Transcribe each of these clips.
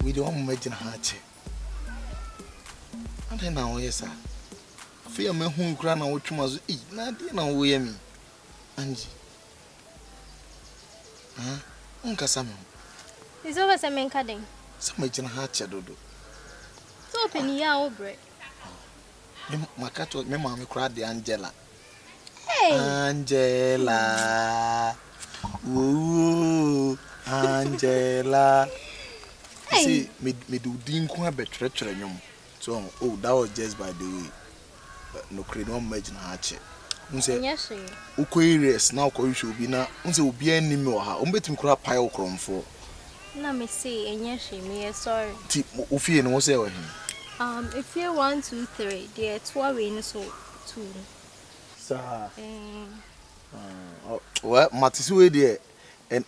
Wei deɛ wɔn mma gyina ha akyɛ. Adɛn na wɔyɛ saa? Afei a mahu nkura na wɔtwe ma so ei na adeɛ na wɔyɛ me. Angie. Ah, wonkasa me ho. Nso wopɛ sɛ menka dɛn? Sɛ magyina ha akyɛ dodo. Sɛ ɔpɛ ne yɛ a wobrɛ. Me maka to me maame koraa de Angela. Angela woo Angela see me me do di nko abɛ twere twere nyom so oh that was just by the way no kre no ma gyina ha kye unse ukɔ areas na ukɔ hwehwɛ obi na unse obi anni me wɔ ha wɔn betumi kora pae wo krɔmfo na me se enye hwe me yɛ sorry ti ofie no wo sɛ wɔ he um efie 1 2 3 deɛ toa wei no so too mu. Saa well mate sɛ wei deɛ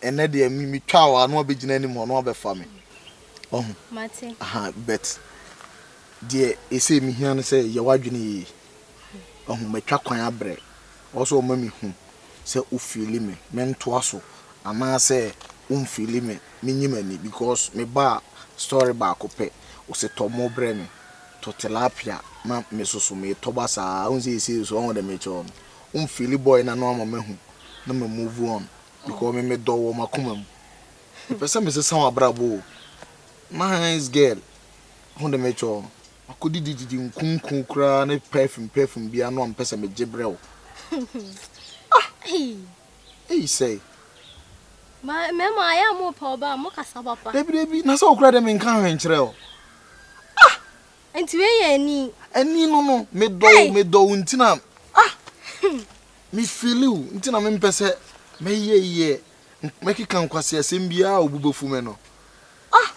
ɛnɛ deɛ metwa wɔ ano abɛgyina anim hɔ no abɛfa me ɔho mate aha bet deɛ ɛsɛ mehia no sɛ yɛ w'adwene yie ɔho matwa kwan abrɛ ɔ sɛ ɔma mehu sɛ wofili me mentoa so anaasɛ womfili me menyi m'ani because mebaa story baako pɛ ɔsɛ tɔ mo brɛ me tɔ tilapia ma me so so metɔ ba saa wohu sɛ yɛsei so ɔho dɛ mekyerɛ wo no wo mfeeli bɔe no ano ama mahu na ma move on because me me dɔ wo wɔ makoma mu mepɛ sɛ mesesa wabrabɔ o nice girl ho dɛ mekyerɛ wo no makɔ didi didi nkunku koraa ne perfume perfume bia no a mepɛ sɛ megye brɛ wo ah ei sɛe mɛma ayɛ a mo pɛ ɔba a mo kasa papa dabi dabi na sɛ wokora dɛ menka hwɛ nkyerɛ o Ah! Nti wei yɛ ani? Ani no no, me dɔ wo, me dɔ wo nti na ah! Me feeli wo nti na me mpɛ sɛ me yɛ yɛ mɛkeka nkwasi asɛm biara a obu bɛfu me no. Ah!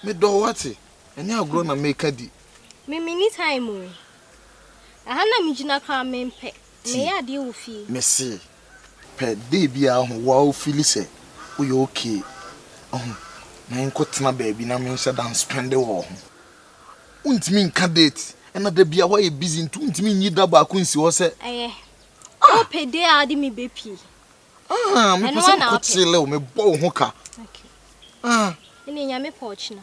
Me dɔ wo ate, ɛnyɛ agorɔ na meka di. Me me ni time o. Ɛha na me gyina koraa me mpɛ, me yɛ adeɛ wɔ fie. Me se, Pɛ dee biaa ho woa wo feeli sɛ wo yɛ ok wahu me nko tena baabi na me nhyɛ da nspɛnde wɔ wo ho wo ntumi nka date ɛna da biaa woayɛ busy nti wo ntumi nyi da baako nsi hɔ sɛ Ɛyɛ wo pɛ dee a wode me bɛ pie ah me pɛ sɛ me kɔ kyele wo me bɔ wo ho ka ah. Ɛne nyame pɛ ɔkyena.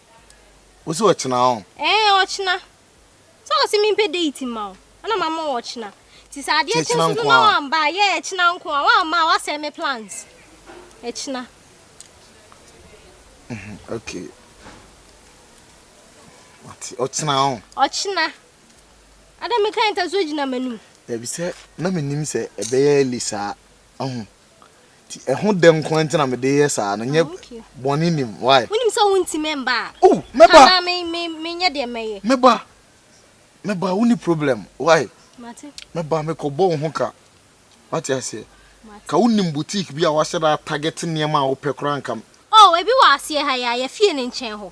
Wosi ɔkyena ɔn? Ɛɛ ɔkyena. Sɛ wɔ se mempɛ date mma wo a na mama wo ɔkyena. Nti sɛ adeɛ kye nso no na wamma a, yeah ɛkyena nko a. Wamma a wasɛe me plans. Ɛkyena. Okay. Mate, ɔkyena ɔn? Ɔkyena. Ada mekae nta so gyina m'anim. Dabi sɛ na menim sɛ ɛbɛyɛ early saa. Ahu. Nti ɛho dɛ nko ara nti na mede yɛ saa no, nyɛ bɔne nnim, why? Wonim sɛ wontumi mba a, Oh, mɛba, anaa me, me, menyɛ deɛ mɛyɛ. mɛba, mɛba, wonni problem, why? Mate, Mɛba, mekɔbɔ wo ho ka, wate aseɛ? mate. Ka wonim boutique bi a wɔahyɛ da atarget nneɛma a wopɛ koraa a nka m. Oh, ebi wɔ aseɛ ha yi a, yɛ fie no nkyɛn hɔ.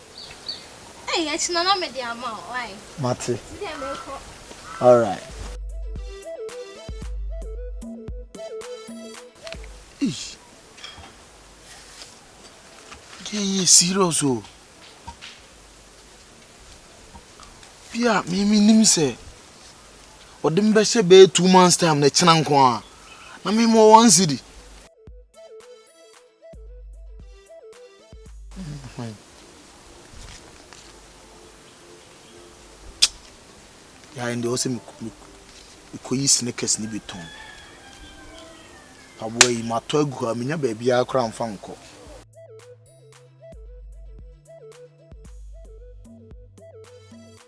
Mate. Alright. Eish. Deɛ yɛ serious o. Bi a me me nim sɛ ɔde me bɛhyɛ bɛyɛ two months time na ɛkyena nko a na me mɔ one city. Yeah, and they also me me me kɔ yi sneakers ni bi tɔn. Aboa yi ma tɔ agu hɔ a menya baabi a koraa mfa nkɔ.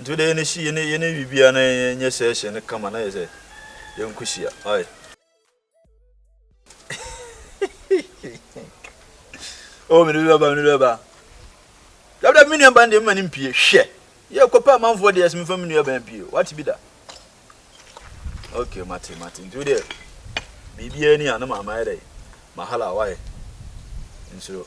Nti wode yɛne hye yɛne yɛne wie bia na yɛnyɛ session no kama na yɛ sɛ yɛnko hyia. Ai. oh mene bi bɛba mene bi bɛba. Dabda me nuaban deɛ mema ne mpie hwɛ. Yɛ kɔpɛ amanfoɔ deɛ sɛ mefa me nuaban pie. Wate bi da. Okay mate mate. Nti wodeɛ biribiara ni a na maama yɛ dɛ. Mahala wae. Nsuro.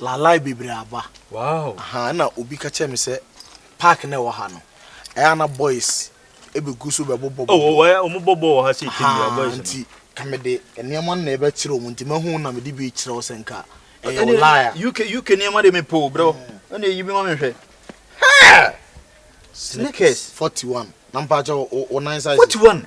lalai bebree aba. Wow. Aha, ɛna obi ka kyerɛ me sɛ park na ɛwɔ ha no, ɛyɛ a na boys ɛbɛgu so bɛbobɔ bɔ. Oh, wɔyɛ wɔn bɔ bɔ wɔ ha sɛ ɛtɛm bia boys no. Nti ka me de nneɛma no na ɛbɛkyerɛ wɔn nti mahu na me de bi kyerɛ wo sɛ nka ɛyɛ wo lie a. UK UK nneɛma de me po bro. Ɛna ɛyi bi ma me hwɛ. Hey! Sneakers. 41. Na mpakyɛ wo nan size. 41.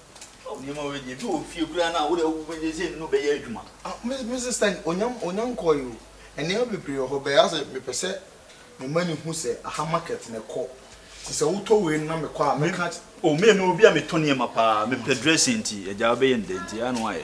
Ao nneɛma wei deɛ ebi wɔ fie koraa no a wode agu bɛgye sɛ nnuru bɛyɛ adwuma. Ah me me sister onya onya nkɔɔe o nneɛma bebree wɔ hɔ bɛyɛ asɛ mepɛ sɛ me ma no hu sɛ aha market na ɛkɔ nti sɛ wotɔ wei no na mekɔ a mɛka. Oh me me obi a metɔ nneɛma paa mepɛ dressing nti agya wobɛyɛ no dɛn nti ɛyɛ a na woayɛ.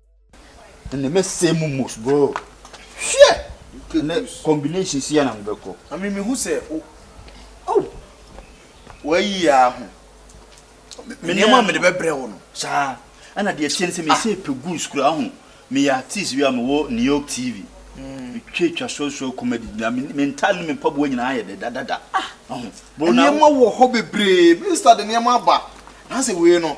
ɛnna mɛsɛe mo mos bro hwɛ ɛnɛ combination si na mobɛkɔ ame mehu sɛ o oh. wayi yɛ aho nneɛma a mede bɛbrɛ wo no saa ɛna deɛ ɛteɛ no sɛ mesɛ ah. pɛ gus kura ho meyɛ artist bi a mewɔ new york tv hmm. metwa twa soasoa comedy na mentale no mempaboa nyinaa yɛ dɛ dadada ah. nneɛma wɔ hɔ bebree mista de nneɛma aba na sɛ wei no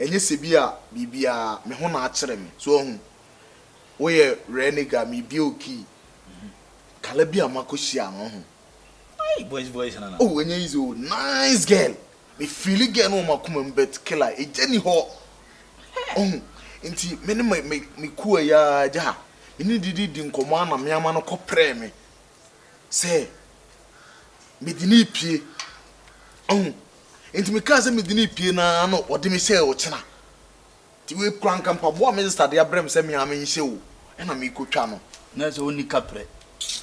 Ɛnyɛ sɛ bi a biribiara, me ho na akyere me. So wahu? Woyɛ rare nigga, mebue wo key. Kala bi a makɔ hyia no, wahu? Aii boys boys nana. Oh ɛnyɛ easy o, nice girl. Me feeli girl no wɔ m'akoma mu but killer, egya nni hɔ. Wahu? Nti me ne me me me kuo a ɛyɛ ara gya, me ne no dididi nkɔmmɔ ara na me ama no kɔ prɛɛ me. sɛ mede no repue. Wahu? Enti mekaa sɛ mede no repue no ara na ɔde me hyɛɛ ɔkyena. Enti wei koraa anka mpaboa a me sista de abrɛ me sɛ me ara menhyɛ o, ɛna merekɔtwa no. Na ɛsɛ sɛ ɔnni kaprɛ.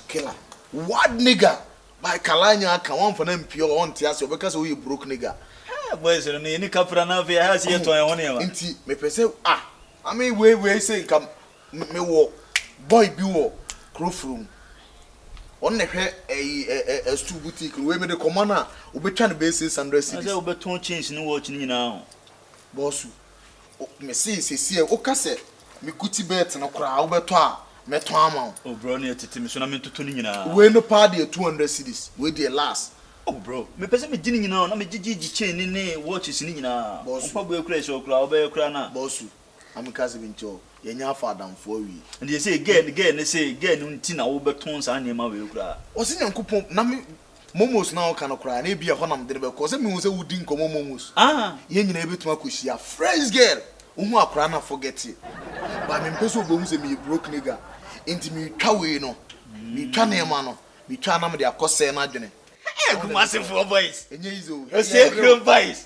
Killer. Word nigga! By Kalanya aka, woamfa no ampue a ɔnte ase, ɔbɛka sɛ woyɛ broke nigga. Hɛɛ, boys no, na yɛnni kaprɛ anaa afei ɛha se yɛtɔn yɛn ho nneɛma? Enti mepɛ sɛ, ah, ame wei, wei sei, nka Mewɔ boy bi wɔ kuro foro mu ɔno na ɛhwɛ ɛyi ɛ stool boutique no wei mede kɔma no a obetwa no bɛyɛ six hundred cedis. Ɛsɛ wobɛtɔn chains ne watch no nyinaa o. Bɔsu o mesee sesie a woka sɛ me Gucci belt no koraa wobɛtɔ a mɛtɔn ama wo. O bro ɛneɛ tete me so na mentoto ne nyinaa. Wei no paa deɛ two hundred cedis wei deɛ last. O bro mepɛ sɛ megye ne nyinaa o na megye gyigyi chain ne ne watches ne nyinaa o mpaboa kura ɛsɛ ɔkura a wobɛyɛ koraa no a. Bɔsu Ame ka se bi nti ɔ yɛ nya afa adamfo awie. Ɛndeɛ sei girl no girl no sei girl no nti na wobɛtɔn saa nneɛma wei koraa. Ɔse Nyankopɔn na me momos no a woka no koraa no ebia ɛhɔ na mede no bɛkɔ ɔsɛ mehu sɛ wodi nkɔmmɔ momos Ah! yɛn nyinaa yɛbɛtumi akɔhyia Fresh girl wohu akwadaa no a forget it but mempɛ sɛ ɔbɛhu sɛ meyɛ broke nigga nti meretwa wei no meretwa nneɛma no metwa a na mede akɔsɛe no adwene Hey! Kumasefoɔ boys! Ɛnyɛ easy o Hey yɛbrɛ o Osenkrom boys!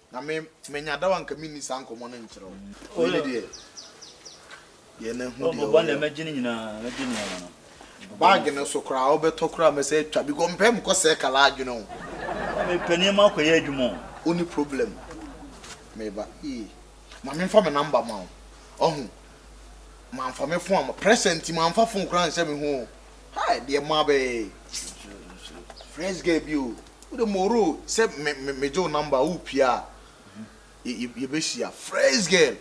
Na me manya daw anka menni saa nkɔmmɔ no nkyerɛ wo. Wei ne deɛ yɛ na hu deɛ ɔyɛ o. Bag no so koraa wobɛtɔ koraa mɛsɛ atwa because mempɛ mekɔ sɛɛ ka la adwene o. Na mepɛ nneɛma akɔyɛ adwuma o. Wonni problem meba ee. Ma memfa me number ma wo ɔho. Mamfa me phone amma pressure nti mamfa phone koraa anhyɛ me ho o. Hai deɛ mma bɛyɛ ee. Fresh girl bi o. Wo de moro sɛ me me gye wo number a wo pia a yɛ yɛ bɛ hyia fresh girl.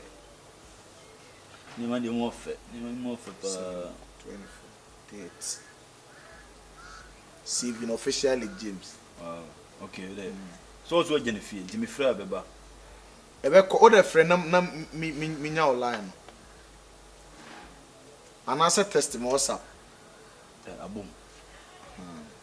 Nneɛma deɛ mu ɔfɛ nneɛma mu ɔfɛ paa. Twenty four thirty saving officially James. Wow okay wo de so wɔn so agya ne fie nti me frɛ a bɛ ba. Ɛbɛ kɔ wo de frɛ na na mi mi mi nya wo line no anaasɛ test me WhatsApp. Ɛ abom.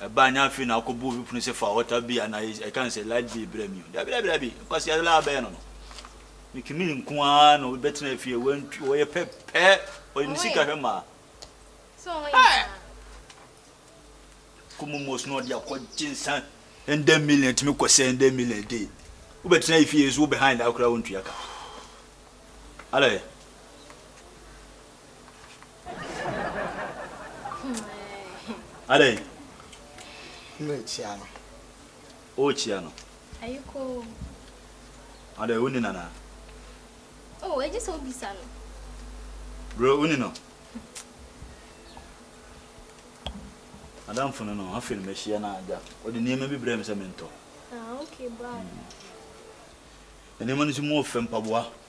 Ɛbaa nya afei na akɔbu obi pono sɛ fa wɔta bi anaa ɛka no sɛ light bill brɛ me o. Dabi dabi dabi, nkwasea laa bɛyɛ no no. Mekimi nko ara na obi bɛtena afie wantu ɔyɛ pɛpɛ ɔyɛ ne sika hwɛ maa. Kɔmu mos na ɔde akɔgye nsa. Ɛndɛ million tumi kɔ sɛ ɛndɛ million a day. Wobɛtena afie so wobɛhan daa koraa wontua ka. Alɛ. Adɛn? Merekyia no. Worekyia no? Ayiko. Adɛn, wonni no anaa? Oh, egye sɛ wobisa no. Bro, wonni no? Adamfo no no, afei no mahyia no agya. Ɔde nneɛma bi brɛɛ me sɛ mentɔ. Ah, okay, bye. Nneɛma no nso mu ɔfɛ, mpaboa.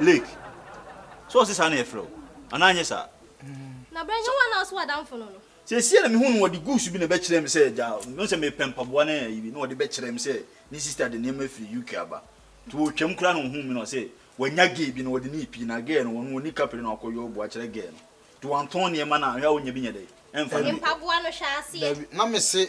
Lake, sɛ ɔse saa na yɛfrɛ wo anaa anyɛ saa? Na berɛ hewa na ɔso adamfo no no? Seesei na mehu no, wɔde guusu bi na ɛbɛkyerɛɛ me sɛ agya, mehu sɛ mepɛ mpaboa ne ayi bi, na wɔde bɛkyerɛɛ me sɛ ne sista de nneɛma afiri UK aba. Nti wɔretwam koraa na ɔhuu me na ɔse wanya gɛɛ bi na wɔde no repii, na gɛɛ no ɔno ɔnni kapre na wakɔ yɔɔbo akyerɛ gɛɛ no. Nti wɔantɔn nneɛma no a, hwɛ a ɔnnya bi nyɛ dɛn? Ɛmfa no bi kɔ. Dabi, dabi, na mese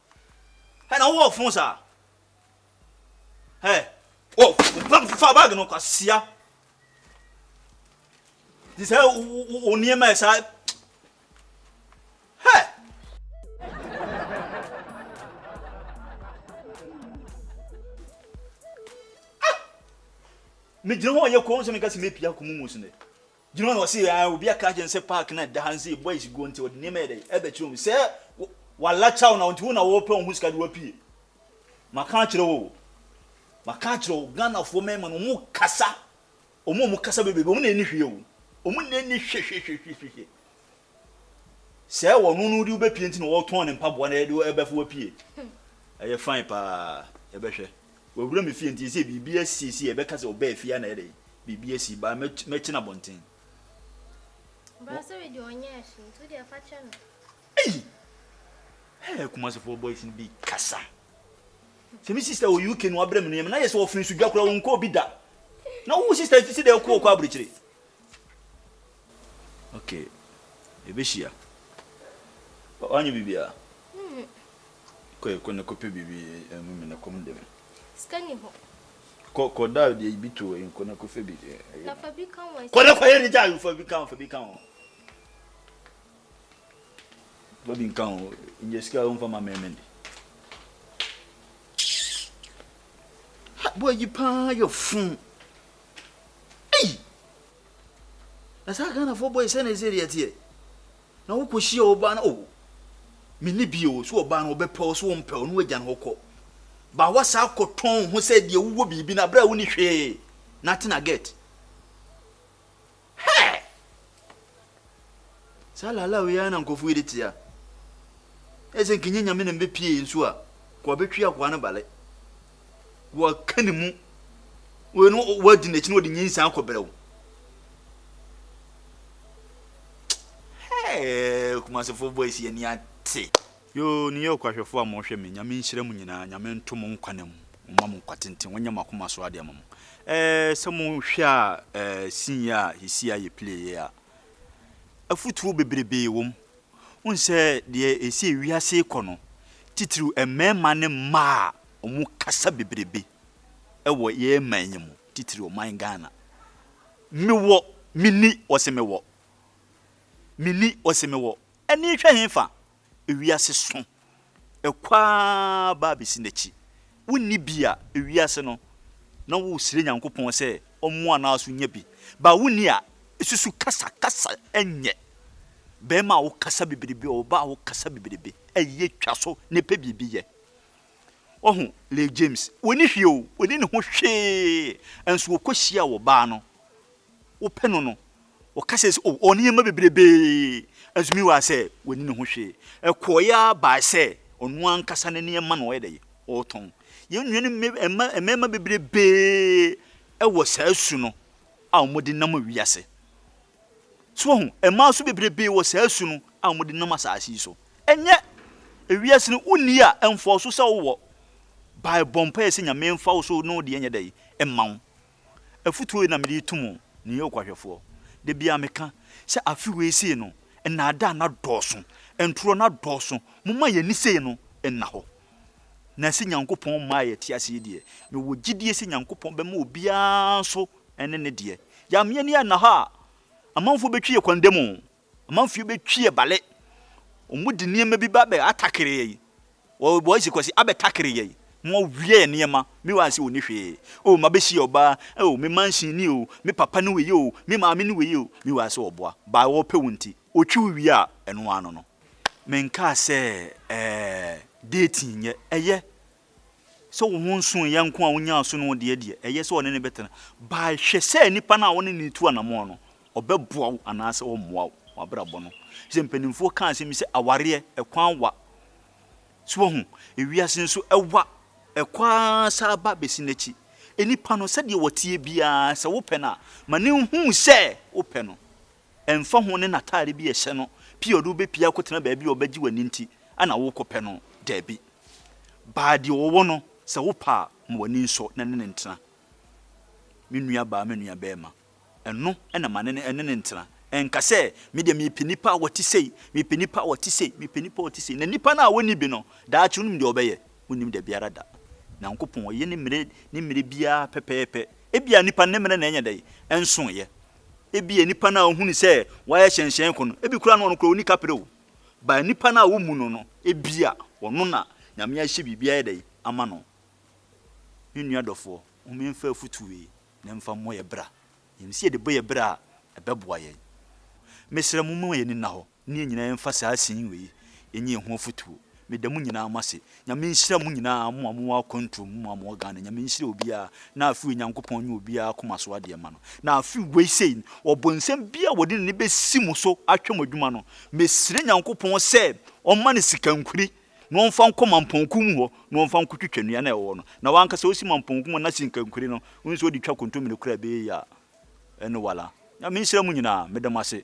Hɛ na wowɔ fon saa hɛ wɔ fa bag no kwasia de sɛ wo nneɛma saa hɛ. megyina hɔ yɛ kɔn sɛ meka sɛ mɛpia kɔmu mu sene Gyina hɔ na ɔse aah obi aka akyerɛ no sɛ park no a ɛda ha no sɛ yɛ boys guo nti ɔde nneɛma yɛ dɛn ɛbɛkyerɛ mu sɛ walakyɛw na nti wo na wɔpɛ wo ho sika de wapue maka akyerɛ wo o maka akyerɛ wo Ghanafoɔ mmarima no wɔn kasa wɔn a wɔn kasa bɛ baabi wɔn na ɛni hwee o wɔn na ɛni hwehwehwehwehwe Sɛ ɔno no wode wo bɛpie nti na wɔtɔn ne mpaboa na ɛde ɛbɛfo wapie ɛyɛ fine paa yɛbɛhwɛ wawura me fie nti sɛ biribi asiesie ɛbɛka sɛ ɔbaa fie na ɛde biribi asi baa mɛkyena bɔnten brasere deɛ ɔnyɛ ɛhye nti wodeɛ fa kyɛ no ei hey, kumasefoɔ boys no bi kasa sɛ me sister wɔ UK no wabrɛ me nneɛma na yɛ sɛ ɔfiri so dwa koraa wɔnkɔ obi da na wo sister ti sɛ deɛ ɛkɔ ɔkɔ aburokyire Ok, yɛbɛhyia. Wanyɛ biribiara? Mhm. Kɔ yɛ kɔ na kɔpɛ biribi ɛmu mi na kɔm dɛ me. Sika ni hɔ. Kɔ kɔ da deɛ bi to ɛyi kɔ na kɔfɛ bi. Na fa bi ka ho. Kɔ na kɔ yɛ ne gya fa bi ka ho fa bi ka ho. Fa bi nka ho nyɛ sika a womfa ma mɛmɛ de. Boy yi paa yɛ fun. Ei! Na saa Ghanafoɔ boys sɛ na ɛsɛ deɛ teɛ. Na wokɔ hyia ɔbaa na oh. Me ni bi o, so ɔbaa no ɔbɛpɛ o, so ɔmpɛ o, no agya no ɔkɔ. Ba wasa akɔ tɔn ho sɛ deɛ wowɔ biribi na berɛ a woni hwee na atena get. Hey! Saa laalaa wei ara na nkurɔfo yi de tea. Ayɛ sɛ nka ɛnyɛ Nyame na mbɛpie yɛn nsuo a, nka wɔabɛtwi akoa no bale. Wɔaka ne mu. Wei no wɔadi n'akyi na wɔde nyinsɛn akɔbrɛ wo. Hey! Kumasefoɔ boys yɛn ani ate. Yoo New York ahwɛfoɔ a mohwɛ me Nyame nhyira mo nyinaa Nyame nto mo nkwa nna mu Ɔmma mo nkwa tenten Wanyɛ mo akoma so adeɛ ama mo eh Sɛ mo hwɛ a eh scene yi a sesia yɛ play yɛ a Afutuo bebrebee wɔ mu Wohu sɛ deɛ ɛsi ewiase rekɔ no Titiriw mmarima ne mmaa a ɔmo kasa bebrebe wɔ yɛn man yi mu Titiriw ɔman Ghana Me wɔ, me nni, ɔse me wɔ Me nni, ɔse me wɔ. Ani hwɛ hefa? Wiase so. Ɛkɔ ara ba besi n'akyi. Wonni bi a, wiase no, na wosrɛ Nyankopɔn sɛ ɔmmoa no ara so nya bi. But wonni a, susu kasa, kasa nyɛ. Barima a wokasa bebrebe, ɔbaa a wokasa bebrebe, ɛyɛ twa so na ɛpɛ biribi yɛ. Wahu Lil James? Onni hwee o, onni ne ho hwee, nso ɔkɔhyiaa ɔbaa no. wopɛ no no, wɔka sɛ sɛ ɔwɔ nneɛma bebrebe, Azumi waa sɛ wanni ne ho hwee. Ɛkɔɔe ara bae sɛ ɔno ankasa ne nneɛma na ɔyɛ dɛ? Ɔretɔn. Yɛn nuanom mma, mmarima bebrebe wɔ saa su no a wɔde nam wiase. So woahu? Mmaa nso bebrebe wɔ saa su no a wɔde nam asase yi so. Ɛnyɛ wiase no wonni a, ɛmfɔɔso sɛ wowɔ. Bae bɔ mpaeɛ sɛ Nyame mfa wo so na wo deɛ nyɛ dɛ? Mma wo. Afotuo wei na mede reto mo, New York ahwɛfoɔ. Da biara meka sɛ afe wei sei no, nnaadaa no adɔɔso, ntorɔ no adɔɔso, momma yɛn ani sei no nna hɔ. Na sɛ Nyankopɔn mmaa yɛte ase yi deɛ, mewɔ gyidie sɛ Nyankopɔn bɛma obiara nso ne ne deɛ. Yɛamma yɛn ani anna hɔ a, amanfoɔ bɛtwe yɛn kwan dam o. Amanfoɔ bɛ twi yɛ bale. Ɔmo de nneɛma bi ba bɛ atakere yɛ yi. Wɔ wɔ zi kɔ si abɛ takere yɛ yi. Mo awia yɛ nneɛma. Me wa nsi ɔni hwee. Oh ma bɛ si yɛ ɔbaa. Oh me mansion ni oh. Me papa ni wɛ yi oh. Me maame ni wɛ yi oh. Me wa sɛ ɔboa. Ba wɔ pɛ wo nti. Ɔtwi wo wie a ɛno ara no no. Me nkaa sɛ ɛɛ dating nyɛ. Ɛyɛ. sɛ wo ho nso yɛ nko a wonyaa so no deɛ deɛ, ɛyɛ sɛ ɔne no bɛtena. By hwɛ sɛ nipa no a wo ne no retu anamɔn no, ɔbɛboa wo anaasɛ ɔremmoa wo wɔ abrabɔ no. Sɛ mpanimfoɔ ka asɛm bi sɛ awareɛ ɛkwan wa. So wahu? Ewiase nso ɛwa. Ɛkɔ ara saa ba bɛsi n'akyi. Nipa no sɛdeɛ ɔteɛ biara sɛ wopɛ no a, ma no nhu sɛ wopɛ no. Ɛmfa ho ne n'atade bi a ɛhyɛ no pi a ɔde wo bepia akɔtena baabi a ɔbɛgye w'ani nti na worekɔpɛ no. Dabi. Baa deɛ ɔwɔ no, sɛ wopɛ a, ma w'ani nsɔ na ne no ntena. Me nuabaa, me nuabarima, ɛno na ma ne ne no ntena. Nka sɛ, Me deɛ mepɛ nipa a ɔte sei, mepɛ nipa a ɔte sei, mepɛ nipa a ɔte sei. Na nipa no a ɔnni bi no, daakye wonim deɛ ɔbɛyɛ? Wonnim da biara da. Nyankopɔn, ɔyɛ ne mmerɛ ne mmerɛ biara pɛpɛɛpɛ. Ebia nipa no ne mmerɛ na ɛnyɛ dɛn? Ɛnsoeɛ. Ebia nnipa no a ohunu sɛ wɔayɛ hyɛnhyɛn kɔ no, ebi koraa no ɔno koraa onni kapere o. But nnipa no a wommu no no, ebia ɔno na Nyame ahyɛ biribi ayɛ dɛn ama no. Me nua dɔfoɔ, momma yɛmfa afotu wei na yɛmfa mmɔ yɛn bra. Yɛnim sɛ yɛde bɔ yɛn bra a, ɛbɛboa yɛn. Mesrɛ mo momma yɛn ani nna hɔ. Ne yɛn nyinaa mfa saa scene wei nyɛ yɛn ho afutuo. Meda mo nyinaa mo ase. Nyame nhyira mo nyinaa mo a mo wɔ akwantuo mu, mo a mo wɔ Ghana. Nyame nhyira obiara na afewei Nyankopɔn nyɛ obiara akoma so adeɛ mma no. Na afewei sei ɔbonsam biara a wɔde n'ani bɛsi mo so ahwɛ mo adwuma no, mesrɛ Nyankopɔn sɛ ɔmma no sika nkwiri na ɔmfa nkɔ Mampɔn kuw mu hɔ na ɔmfa nkɔ twitwa nnua no a ɛwɔ hɔ no. Na w'ankasa wosi Mampɔn kuw mu na sika nkwiri no, wohu sɛ wode twa kontomire koraa ɛbɛyɛ yie a, ɛno wala. Nyame nhyira mo nyinaa. Meda mo ase.